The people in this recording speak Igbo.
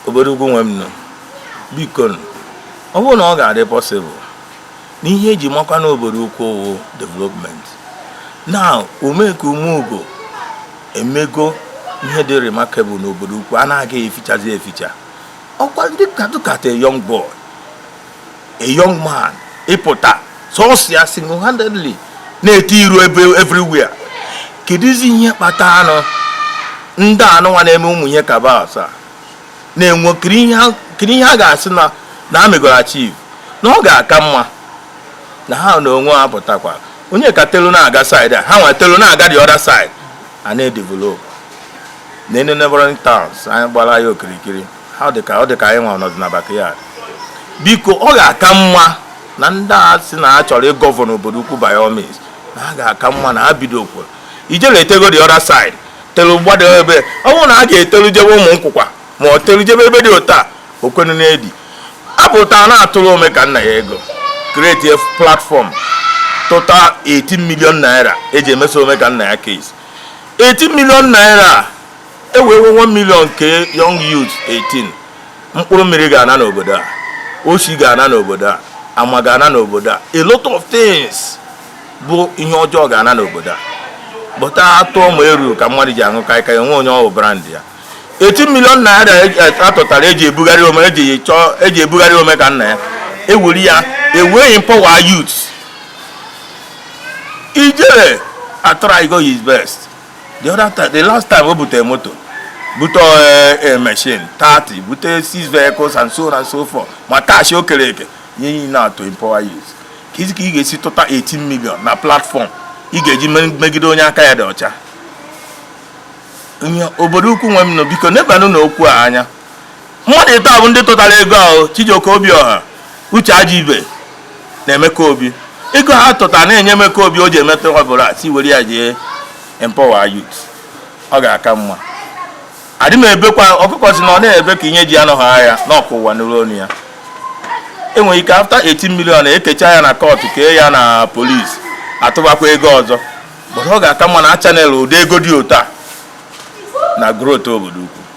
obodo ukwu nwe m nọ biko ọ bụrụ na ọ ga-adị possible na ihe eji makwa na obodo ukwu ọ wụ development na omeka umeugo emego ihe dị remarkable n'obodo ukwu a na-agaghị efichazi eficha ọkwa ndị katụkata young boy a young man ịpụta sọsọ ya single handedly na-eti iru ebe everywhere kedụzi ihe kpata anụ ndị anụnwa na-eme ụmụ ihe kabas a na-enwe kiri ihe a ga-asị na na amegoro achieve na ọ ga-aka mma na ha na onwe ha pụtakwa onye ka telu na-aga side a ha nwa telu na-aga the other side a na-edevelop na neighboring towns anyị gbara ya okirikiri ọ dị ka ọ dị ka anyị nwa nọdụ na backyard biko ọ ga-aka mma na ndị a sị na ha chọrọ ịgovern obodo ukwu by all means na ha ga-aka mma na ha bidokwa ijele etego the other side telu gbado ebe ọ bụrụ na a ga-etelu jebe Umunkwukwa ma ọ telu jebe ebe dị ụta okwenu na ndị a pụta na-atụrụ Omekannaya ego create a platform tụta 18 million naira eji emeso Omekannaya case 18 million naira e wewe 1 million kee young youth 18 mkpụrụ mmiri ga-ana n'obodo a oshi ga-ana n'obodo a ama ga-ana n'obodo a a lot of things bụ ihe ọjọọ ga-ana n'obodo a but atụọ ma eru ka mmadụ ji aṅụ kaịkaị nwe onye ọ wụ brand ya 18 million naira atụtara eji ebugharị ome eji chọọ eji ebugharị Omekannaya ewuri ya e wee empower youth ijere atrygo his best the other time the last time o butere moto bute eh, eh, machine 30 bute six vehicles and so on and so forth ma cash o kere eke ihe niile na to empower youth kezi ka ị ga-esi tụta 18 million na platform ị ga-eji megide onye aka ya dị ọcha obodo ukwu nwe m nọ biko nebanụ na okwu a anya mmadụ ịtọ bụ ndị tụtara ego ahụ Chijioke Obiọha Uche Ajibe na Emeka Obi ego ha tụtara na-enye Emeka Obi o ji emeta ọ bụ na asị were ya jee empower youth ọ ga-aka mma adị m ebekwa ọkụkọ si na ọ na-ebe ka ihe ji anọghị ahịa na ọ ka ụwa nụlụ onu ya enwere ike after 18 million ekecha ya na kọtụ kee ya na polisi atụbakwa ego ọzọ ọ ga-aka mma na channel ụdị ego dị otu a na growth obodo ukwu